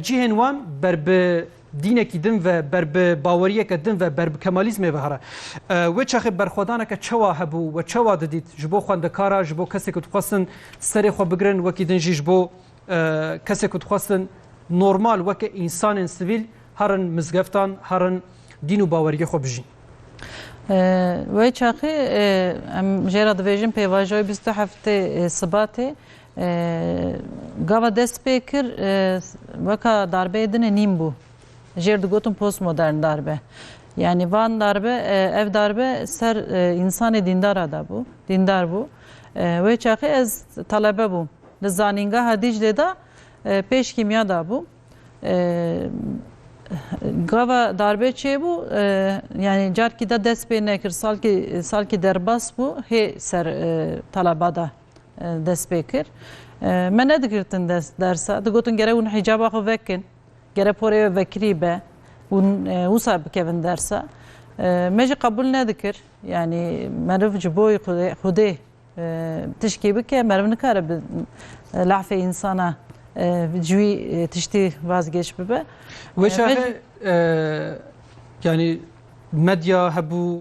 Cihên wan ber bi dînekî din ve, ber bi baweriyeke din ve, ber bi kemalîzmê ve here. Wê çaxê berxwedaneke çewa hebû we çewa didît ji bo xwendekara, ji bo kesê ku dixwestin serê xwe bigirin, wekî din jî ji bo kesê ku dixwestin normal weke însanên sivîl herin mizgeftan, herin dîn û baweriyê xwe bijîn. Wê çaxê em jê re dibêjin pêvajoyê bîst û heftê Sibatê Gava dest pê kir weka darbeyê din e nîm bû. Jêr digotin postmodern darbe. Yanî van darbe ev darbe ser însanê dîndara de bû, dîndar bû. Wê çaxê ez telebe bûm. Li zanîngeha Dîclê de pêş kîmya dabûm. Gava darbe çêbû yanî carkî de dest pê nekir. Salkî salkî derbas bû hê ser teleba de. dest pê kir. Me nedigirtin dest dersa. Digotin gere hûn hîcaba xwe vekin. Gere porê we vekirî be. Hûn wisa bikevin dersa. Me jî qebûl nedikir. Yanî meriv ji bo Xwedê tişkî bike meriv nikare bi lafê însana ji wî tiştî vazgeç bibe. Wê çaxê yanî medya hebû,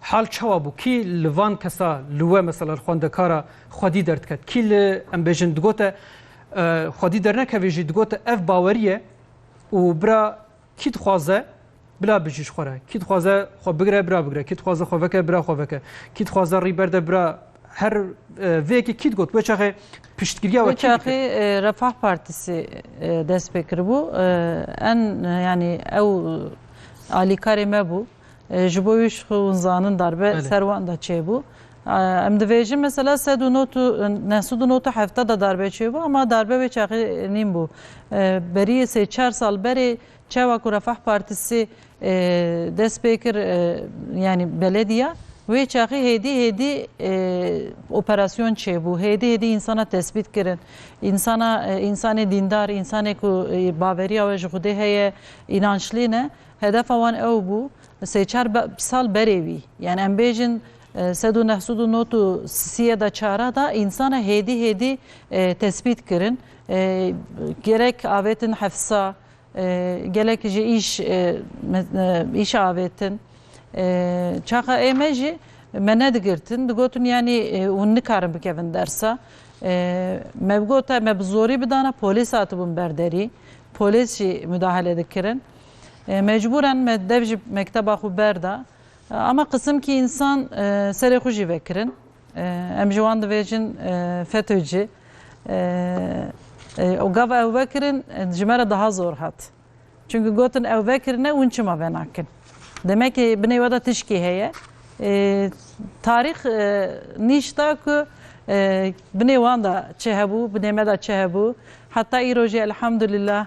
Hal çawa bû? Kî li van kesa li we mesela li xwendekara xwedî derdiket? Kî li em bêjin digote xwedî dernekevê jî digote ev bawerî ye û bira kî dixwaze bila bijî ji xwe re. Kî dixwaze xwe bigire bira bigire. Kî dixwaze xwe veke bira xwe veke. Kî dixwaze rî berde bira her vê yekê kî digot wê çaxê piştgiriya we kî dikir? Wê çaxê Refah Partîsê dest pê kiribû. En yanî ew alîkarê me bû. Ji bo wî şixwezanin darbe ser wan de çêbû. Em dibêjin mesela sed û not û neh sud û not û hefta de darbe çêbû ema darbe wê çaxê nîn bû. Beriyê sê çar sal berê çawa ku Refah Partisî dest pê kir yanî belediya wê çaxê hêdî hêdî operasyon çêbû. Hêdî hêdî însana tesbît kirin. Însana însanê dîndar, însanê ku baveriya we ji Xwedê heye, înançlî ne. Hedefa wan ew bû sê çar sal berê wî yan em bêjin sed û neh sud û not û siyê da çara da însanan hêdî hêdî tesbît kirin. Gerek avêtin hefsa, gelek jî îş îşa avêtin. Çaxa ê me jî me nedigirtin, digotin yanî hûn nikarin bikevin dersa. Me bi gota me bi zorî bidana polîs hatibûn ber derî. Polîs jî mudahale dikirin. Mecbûren me dev jî mekteba xwe berda. Ama qisimkî însan serê xwe jî vekirin. Em ji wan dibêjin FETÖ'cî. Û gav ew vekirin ji me re daha zor hat. Çimkî gotin ew vekirine hûn çima venakin. Demekê binê we de tişkî heye. Tarîx nîş da ku binê wan de çi hebû, binê me de çi hebû. Heta îro jî elhamdulillah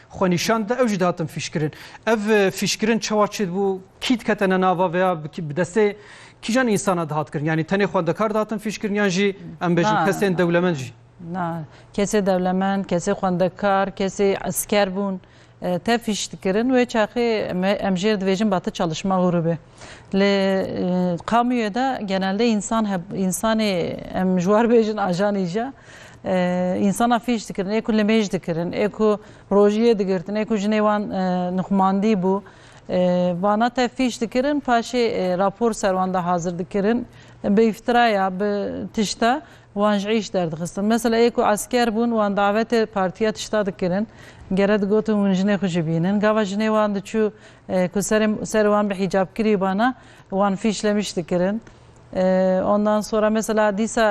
xwenîşan da ew jî dihatin fîşkirin. Ev fîşkirin çawa çêdibû, kî dikete ne nava veya bi destê kîjan însana dihat kirin? Yanî tenê xwendekar dihatin fîşkirin yan jî em bêjin kesên dewlemend jî? Na, kesê dewlemend, kesê xwendekar, kesê esker bûn, tevfîş dikirin. Wê çaxê em jê re dibêjin batı çalışma grûbê. Li Kamûyê de genelde însan heb însanê em ji war bêjin ajanî jî ya. Însana fîş dikirin, ê ku limêj dikirin, ê ku rojiyê digirtin, ê ku jinê wan nixumandî bû. Vana te fîş dikirin, paşê rapor ser wan de hazir dikirin. Bi îftiraya, bi tişta wan ji îş derdixistin. Mesela ê ku esker bûn wan davetê partiya tişta dikirin. Gere digotin hûn jinê xwe jî bînin. Gava jinê wan diçû Ku serê serê wan bi hîcab kirî bana wan fîş lemiş dikirin. Ondan sonra mesela dîsa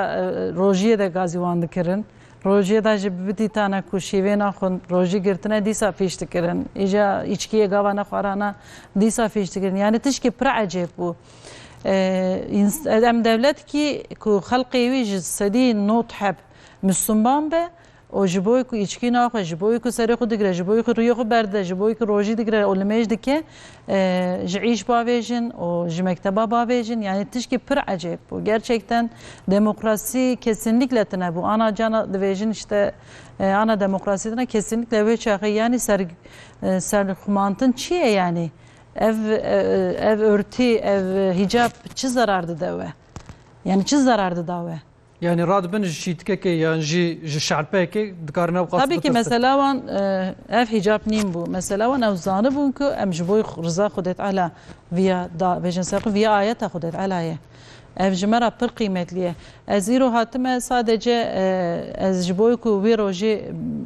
rojiyê de gazî wan dikirin. Rojiyê de jî bibitî tane ku şîvêna xwe rojî girtine dîsa fîş dikirin. Îja îçkiyê gava nexwarana dîsa fîş dikirin. Yanî tişkî pir ecêb bû. Em dewletkî ku xelqê wî ji sedî not heb Misliman be û ji bo ku îçkî naxwe, ji bo ku serê xwe digre, ji bo ku rûyê xwe berdide, ji bo ku rojî digre û nimêj dike, ji îş bavêjin û ji mekteba bavêjin yanî tişkî pir ecêb bû. Gerçekten demokrasî kesînlikle tune bû. Ana cana divêjin îşte ana demokrasî tune kesînlikle wê çaxê yanî ser serxwemantin çi ye yanî? Ev ev ortî, ev hîcab çi zerar dide we? Yanî çi zerar dida we? Yanî radibin ji çîtkekê yan jî ji şelpeyekê dikarin ew qas Tabii ki mesela wan eh, ev hicab nîn bû. Mesela wan ew zanibûn ku em ji bo riza Xwedê Teala viya da bêjin ser xwe viya ayeta Xwedê Teala ye. Ev ji me ra pir qîmetlî ye. Ez îro hatime sadece eh, ez ji bo ku wî rojê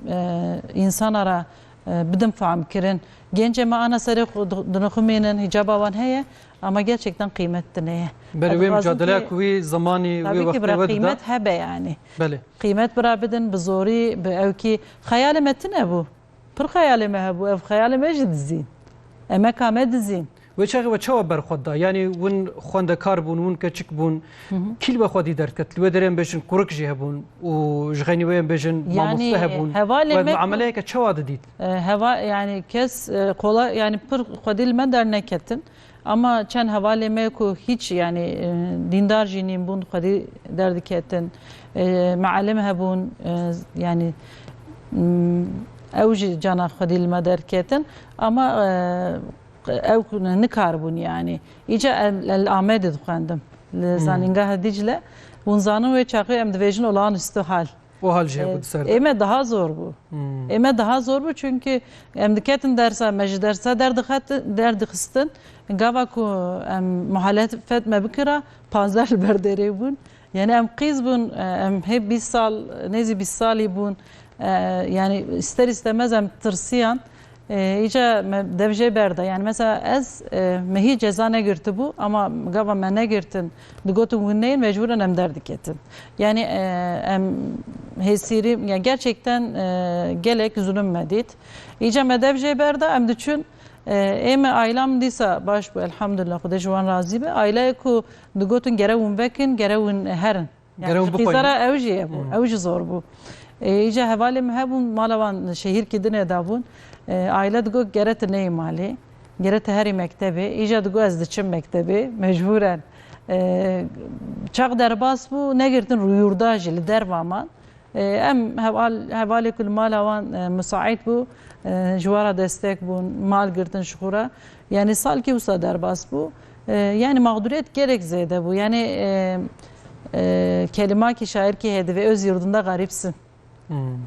eh, însana ra Bidin fehm kirin. Gêncê me ana serê xwe dinixumînin, hîcaba wan heye ama gerçekten qîmet dineye. Belê wê micadeleya ku wî zimanî wê wextê we dida. Qîmet hebe yanî. Belê. Qîmet bira bidin bi zorî, bi ewkî. Xeyalê me tune bû. Pir xeyalê me hebû. Ev xeyalê me jî dizîn. Emeka me dizîn. Wê çaxê we çawa berxwe da? Yanî win xwendekar bûn, win keçik bûn. Kî li we xwe dî derket? Li wê derê em bêjin kurik jî hebûn û ji xeynî wê em bêjin mamoste hebûn. We miameleyeke çawa didît? Heva yanî kes qolay yanî pir xwedî li me derneketin. Ama çend hevalê me ku hiç yanî dîndar jî nîn bûn xwedî derdiketin. Mialim hebûn yanî ew jî cana xwedî li me derketin. Ama Ew nikaribûn yanî. Îcar em li Amedê dixwendim li Zanîngeha Dîcle. Hûn zanin wê çaxê em dibêjin olan isto hal. O hal jî hebû di ser te? Ê me daha zor bû. Ê me daha zor bû çunkî em diketin dersa me ji dersa derdixistin. Gava ku em muhalefet me bikira panzdeh li ber derê bûn. Yanî em qîz bûn, em hê bîst sal, nêzî bîst salî bûn. Yanî îster îstemez em tirsiyan. Îca me dev jê berda. Yanî mesela ez me hîç ceza negirtibû ama gava me negirtin, digotin hûn neyên mecbûran em derdiketin. Yanî em hêsîrî ya gerçekten gelek zulm me dît. Îca me dev jê berda em diçûn. Ê me ayla min dîsa baş bû elhamdulillah xwedê ji wan razî be. Aylayê ku Digotin gere win vekin, gere win herin. Gere win bixwînin. Qîzera ew jî hebû, ew jî zor bû. Îca hevalên min hebûn, mala wan şehîrkî din e dabûn. Aîle digot gere tu neyê malê, gere tu herî mektebê. Îca digot ez diçim mektebê, mecbûren. Çax derbas bû, negirtin rû yûrda jî, li derva man. Em heval, hevalê ku li mala wan misaîd bû, ji we re destek bûn, mal girtin ji xwe re. Yanî salkî wisa derbas bû. Yanî maxdûriyet gelek zêde bû. Yanî kelimakî şairkî heye divê Öz yurdum de garîb sin.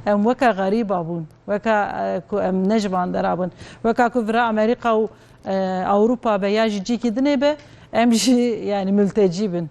Em weka garîba bûn. Weka ku em ne ji van dera bin. Weka ku vira Amerîka û Ewropa be ya ji cîkî dinê be em jî yanî miltecî bin.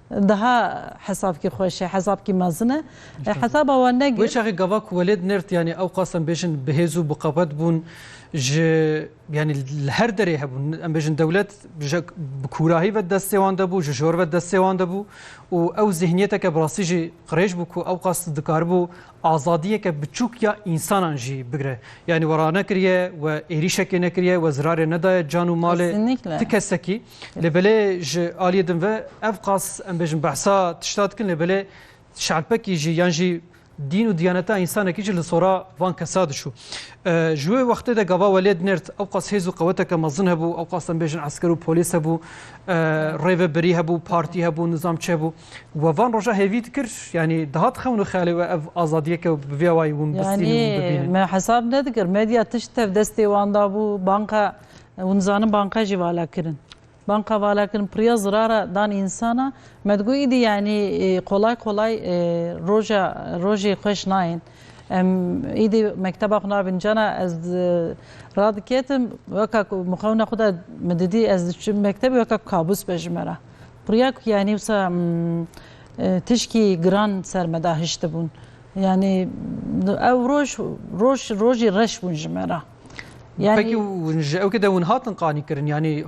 Daha hesabkî xweş e, hesabkî mezin e. Hesaba wan negir. Wê çaxê gava ku welêt nêrt yanî ew qas em bêjin bi hêz û bi qewet bûn ji yanî li her derê hebûn. Em bêjin dewlet ji bi kûrahî ve destê wan de bû, ji jor ve destê wan de bû û ew zîhniyeteke bi rastî jî qirêj bû ku ew qas dikaribû azadiyeke biçûk ya însanan jî bigire. Yanî we ranekiriye, we êrîşekê nekiriye, we zirarê nedaye can û malê ti kesekî. Lê belê ji aliyê din ve ev qas em bêjin behsa tişta dikin lê belê şerpekî jî yan jî dîn û diyaneta însanekî jî li sora van kesa dişû. Ji wê wextê de gava welê dinêrt ew qas hêz û qeweteke mezin hebû, ew qas em bêjin esker û polîs hebû, rêvebirî hebû, partî hebû, nizamçi hebû. We van roja hêvî dikir yanî dihat xewn û xeyalê we ev azadiyeke bi vê awayî hûn bistînin û bibînin. Me hesab nedikir medya tişt tev destê wan dabû banka Hûn dizanin banka jî vala kirin. Banka vala kirin piriya zirara dan însana me digot îdî yanî qolay qolay roja rojê xweş nayên. Em îdî mekteba xwe nabînin cana ez radiketim weka ku mixewna xwe de min didî ez diçim mektebê weka ku kabûs be ji me re. Piriya ku yanî wisa tişkî giran ser me de hiştibûn. Yanî ew roj roj rojî reş bûn ji me re. Yani Peki ji ew kide hûn hatin qanîkirin yanî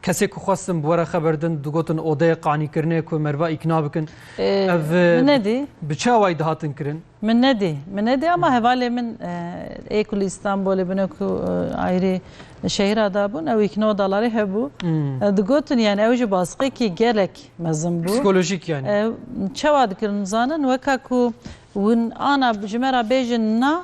kesê ku xwestin bi were xeberdin digotin odeyê qanîkirinê ku merva îkna bikin ev nedî bi çawayî dihatin kirin Min nedî min nedî ama hevalê min ê ku li Îstanbolê bûne ku ayrî şehîra da bûn ew îkna dalarê hebû digotin yani ew ji basqekî gelek mezin bû psikolojîk yani çawa dikirin zanin weka ku hûn ana ji me re bêjin na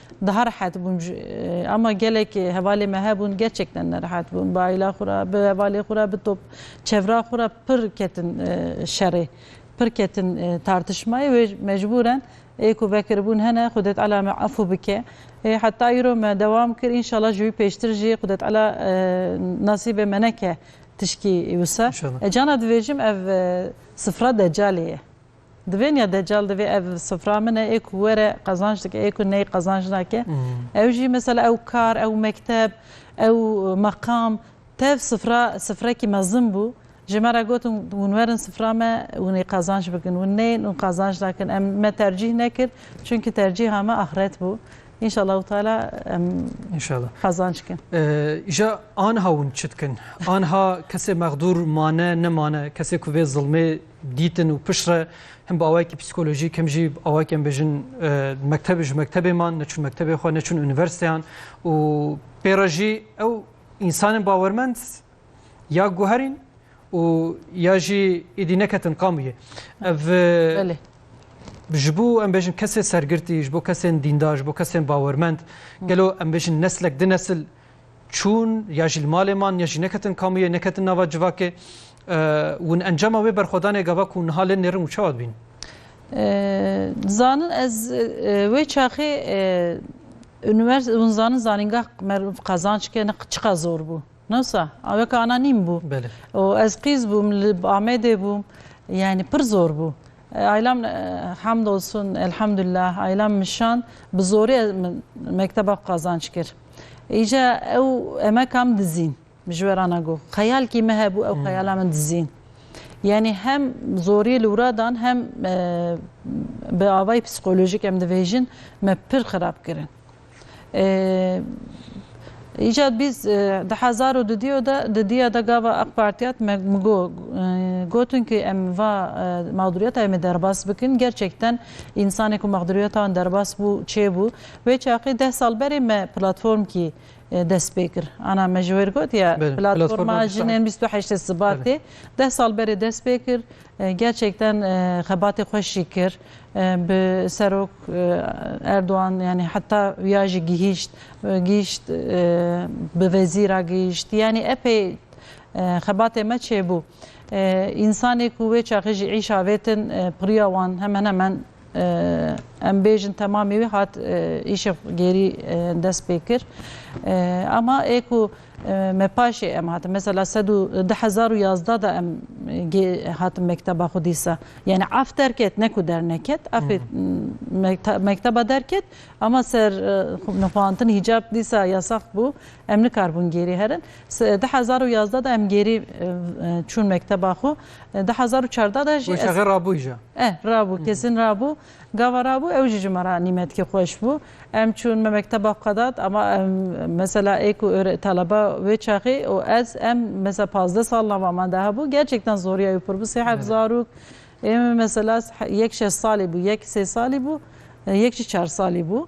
Daha rehet bûm ji ama gelek hevalê me hebûn gerçekten nerehet bûm. Bi aîla xwe re, bi hevalê xwe re, bi top çevra xwe re pir ketin şerê, pir ketin tartişmayê wê mecbûren ê ku vekiribûn hene Xwedetala me efû bike. Heta îro me dewam kir înşela ji wî pêştir jî Xwedetala nasîbê me neke tişkî wisa. Cana divêjim ev sifra decalê ye. Di vê niya Deccal divê ev sifra min e, ê ku were qezanc dike, ê ku ney qezanc nake. Ew jî mesela ew kar, ew mekteb, ew meqam, tev sifra, sifrekî mezin bû. Ji me re gotin hûn werin sifra me, hûn ê qezanc bikin. Hûn neyên, hûn qezanc nakin. Em me tercîh nekir, çimkî tercîha me axret bû. Înşallahu Teala em qezanc bikin. Îja aniha hûn çi dikin? Aniha kesê mexdûr mane, nemane, kesê ku vê zilmê dîtin û pişt re him bi awayekî psîkolojîk him jî awayekî em bêjin mektebê ji mektebê man neçûn mektebê xwe neçûn unîversîteyan û pê re jî ew însanên bawermend ya guherîn û ya jî êdî neketin qamûyê ev ji bo em bêjin kesê sergirtî ji bo kesên dîndar ji bo kesên bawermend gelo em bêjin neslek di nesil çûn ya jî li malê man ya jî neketin kamûyê, neketin nava civakê ûn encama wê berxwedanê gava ku niha lê nêrin û çawa dibîn? Dizanin ez wê çaxê univers hûn zanin zanîngah meriv qezanç ke ne çiqa zor bû. Newsa weke ana nîm bû. Belê. Û ez qîz bûm li Amedê bûm. Yani pir zor bû. Aylan hamdolsun elhamdullah Aylan Mişan bi zorê mekteba qazanc kir. Îca ew emeka min dizîn ji we rana got. Xeyalkî me hebû ew xeyala min dizîn. Yanî hem zorî li wira dan hem bi avayî psîkolojîk em dibêjin me pir xirab kirin. Îjad bîst di hezar û dudiyo de di diya de gava ak Partiyat me migo gotin ki em va maxduriyeta me derbas bikin. Gerçekten însanê ku maxduriyeta wan derbas bû çê bû. Wê çaxê deh sal berê me platform kî dest pê kir. Ana me ji wir got ye platforma jinên bîst û heştê Sibatê deh sal berê dest pê kir. Gerçekten xebatê xweş jî kir. Bi Serok Erdogan yanî heta ya jî gihîşt, gihîşt bi vezî ra gihîşt yanî epey xebatê me çêbû. Însanê ku wê çaxê jî îş avêtin pirîya wan hemen hemen em bêjin temamî wî hat îşê gêrî dest pê kir. Ema ê ku Me paşê em hatin mesela sed û du hezar û yazdeh de em gê hatin mekteba xwe dîsa yanî af derket ne ku derneket afê mekteba derket ama ser nixwaantin hîcab dîsa yasax bû em nikarbûn gêrî herin du hezar û yazdeh de em gêrî çûn mekteba xwe du hezar û çardeh de jî rabû jî eh rabû kesin rabû Gava rabû ew jî ji me re nîmetkî xweş bû. Em çûn me mekteba Xedat ama em mesela ê ku ûrê telebe wê çaxê û ez em mesela pazdeh sal nava me de hebû gerçekten zoriya wî pir bû sê heft zarok ê min mesela yek şeş salî bû yek sê salî bû yek jî çar salî bû.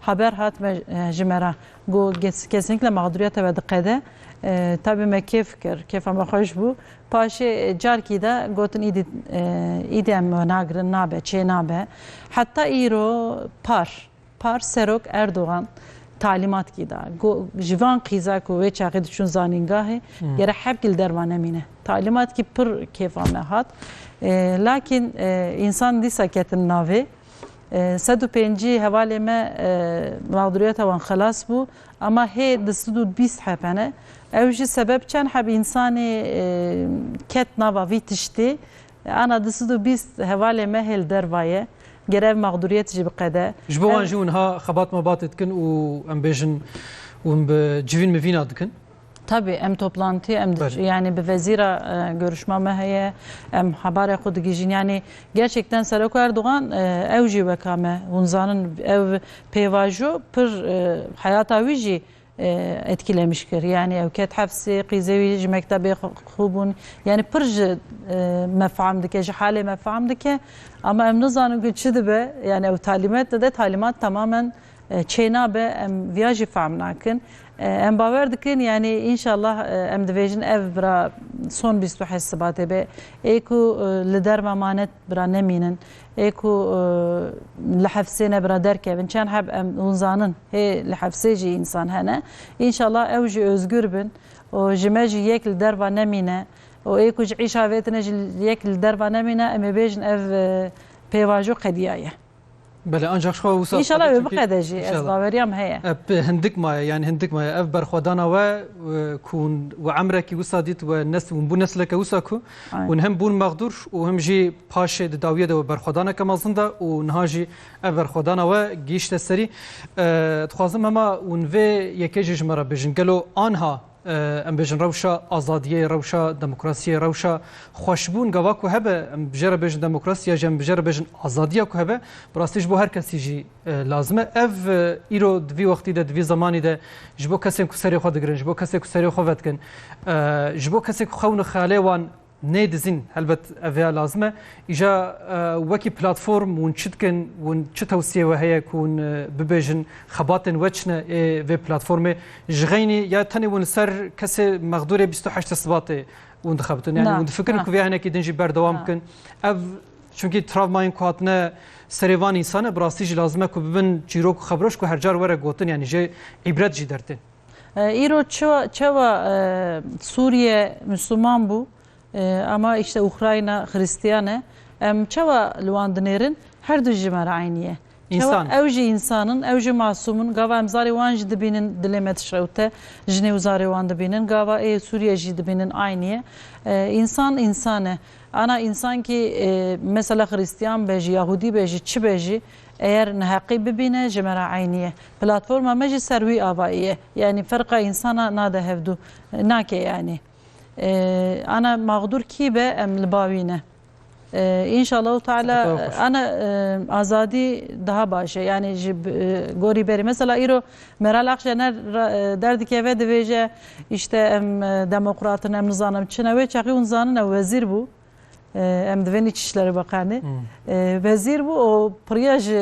Haber hat me ji me re ku kesink li mexduriyeta we diqede. Tabî me kêf kir, kêfa me xweş bû. Paşê carkî de gotin îdî îdî em we nagirin, nabe, çênabe. Heta îro par, par Serok Erdogan talîmat kî da ku ji van qîza ku wê çaxê diçûn zanîngahê gere hevkî li derma nemîne. Talîmat kî pir kêfa me hat. Lakîn însan dîsa ketin navê. Sed û pêncî hevalê me mexduriyeta wan xelas bû ama hê di sed û bîst heb hene. Ew jî sebeb çend heb însanê ket nava vî tiştî. Ana di sed û bîst hevalê me hê li derva ye. Ger ev mexduriyet jî biqede. Ji bo wan jî winha xebat mebat dikin û em bêjin û bi civîn mivîna dikin. Tabî em toplantî em yanî bi vezîra görüşma me heye em hebarê xwe digihîjîn yanî gerçekten Serok Erdogan ew jî weka me hûn zanin ew pêvajo pir heyata wî jî etkilemiş kir yanî ew ket hefsê qîzê wî ji mektebê xwe bûn yanî pir ji me fehm dike ji halê me fehm dike ama em nizanin ku çi dibe yanî ew talîmet dide talîmat temamen Çênabe em viya jî fehm nakin. Em bawer dikin yanî înşallah em dibêjin ev bira son bîst û heşt sibatê be ê ku li derma mane bira nemînin ê ku li hefsê ne bira derkevin çend heb em hûn zanin hê li hefsê jî însan hene înşallah ew jî ozgur bin û ji me jî yek li derva nemîne û ê ku ji îşa vêtine jî yek li derva nemîne em ê bêjin ev pêvajo qediya ye. Belê ancak xwe wisa Înşala ew biqede jî ez baweriyam heye. Ev hindik maye yani hindik maye ev berxwedana we ku hûn we emrekî wisa dît we nes hûn bû nesleke wisa ku hûn hem bûn mexdûr û him jî paşê di dawiyê de we berxwedaneke mezin da û niha jî ev berxwedana we gihîşte serî. Dixwazim hema hûn vê yekê jî ji me re bijin gelo anha Em bêjin rewşa azadiyê, rewşa demokrasiyê, rewşa xweşbûn gava ku hebe, em bi jê re bêjin demokrasî ya jî em bi jê re bêjin azadiya ku hebe, bi rastî ji bo her kesî jî lazim e. Ev îro di vî wextî de, di vî zemanî de ji bo kesên ku serê xwe digirin, ji bo kesên ku serê xwe vedikin, ji bo kesên ku xewn û xeyalê wan Nê dizîn helbet ev vêya lazim e. Îja wekî platform hûn çi dikin, hûn çi tewsiyê we heye ku hûn bibêjin, xebatên we çi ne ê vê platformê? Ji xeynî ya tenê hûn li ser kesê mexdûrê bîst û heşt sibatê hûn dixebitin. Yanî hûn difikirin ku vêya hinekî din jî berdewam bikin. Ev çunkî travmayên ku hatine serê van însan e bi rastî jî lazim e ku bibin çîrok û xebroj ku her car were gotin yanî jê îbret jî dertên. Îro çawa Sûriye Misliman bû ama îşte Ukrayna Xirîstiyan e. Em çawa li wan dinêrin? Her du ji me re eynî ye. Çawa ew jî însan in, ew jî masûm in. Gava em zarê wan jî dibînin dilê me dişewite. Jinê û zarê wan dibînin. Gava ê Sûriye jî dibînin eynî ye. Însan însan e. Ana însankî mesela Xirîstiyan be jî, Yahûdî be jî, çi be jî. Eyer neheqî bibîne ji me re eynî ye. Platforma me jî ser wî avayî ye. Yanî ferqa însana nade hevdû. Nake yanî. Ana maxdûr kî be em li ba wî ne. Înşallahu Teala ana azadî daha baş e. Yanî ji gorî berî. Mesela îro Meral Akşener der dikeve dibêje îşte em demokratin em nizanim çin e. Wê çaxî hûn zanin ew wezîr bû. Em divênî çi şlerê beqanê. Wezîr bû û piriya ji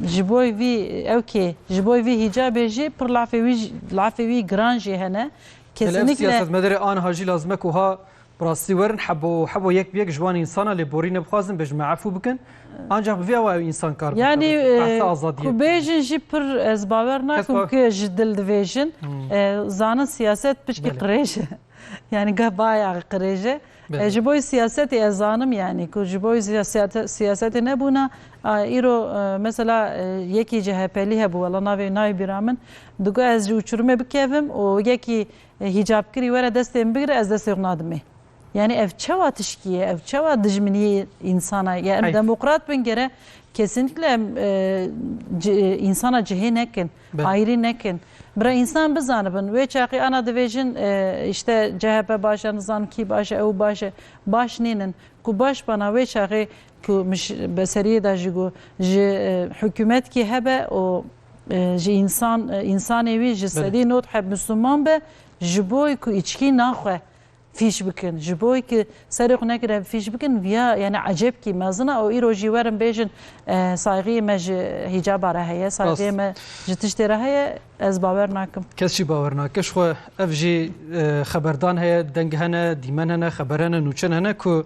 ji bo vî ew kê ji bo vî hîcabê jî pir lafê wî lafê wî giran jî hene. Kesinlikle siyasetmedarê anha jî lazim e ku ha bi rastî werin hebo hebo yek bi yek ji wan însan a lê borî ne bixwazin bê ji me efû bikin. Ancak bi vê awa ew însan kar bikin. Yanî ku bêjin jî pir ez bawer nakim ku ji dil divêjin. Zanin siyaset pişkî qirêj e. Yanî geh baya qirêj e. Belê. Ji boî siyasetê ez zanim yanî ku ji boî siyasetê nebûna îro mesela yekî CHPlî hebû wela navê nayê bîra min digot ez ji uçurumê bikevim û yekî hîcabkirî were destê min bigire ez destê xwe nadim ê. Yanî ev çawa tişkî ye, ev çawa dijminîyê însan e. Ya em demokrat bin gere kesinlikle em insana cihê nekin. Ayrî nekin. Bira însan bizanibin. Wê çaxê ana divê jin îşte chp baş e nizanim kî baş e ew baş e. Baş nînin. Ku baş bana wê çaxê ku mij be seriyê de jî got ji hikûmet kî hebe û ji însan însanê wî ji sedî not heb misûlman be ji bo ku îçkî naxwe. Fîş bikin. Ji bo ki serê xwe nekiriye bi fîş bikin viya yanî ecêbkî mezin e û îro jî werin bêjin saygîyê me ji hîcaba re heye, saygîyê me ji tiştê re heye ez bawer nakim. Kes jî bawer nake. Jixwe ev jî xeberdan heye, deng hene, dîmen hene, xeber hene, nûçin hene ku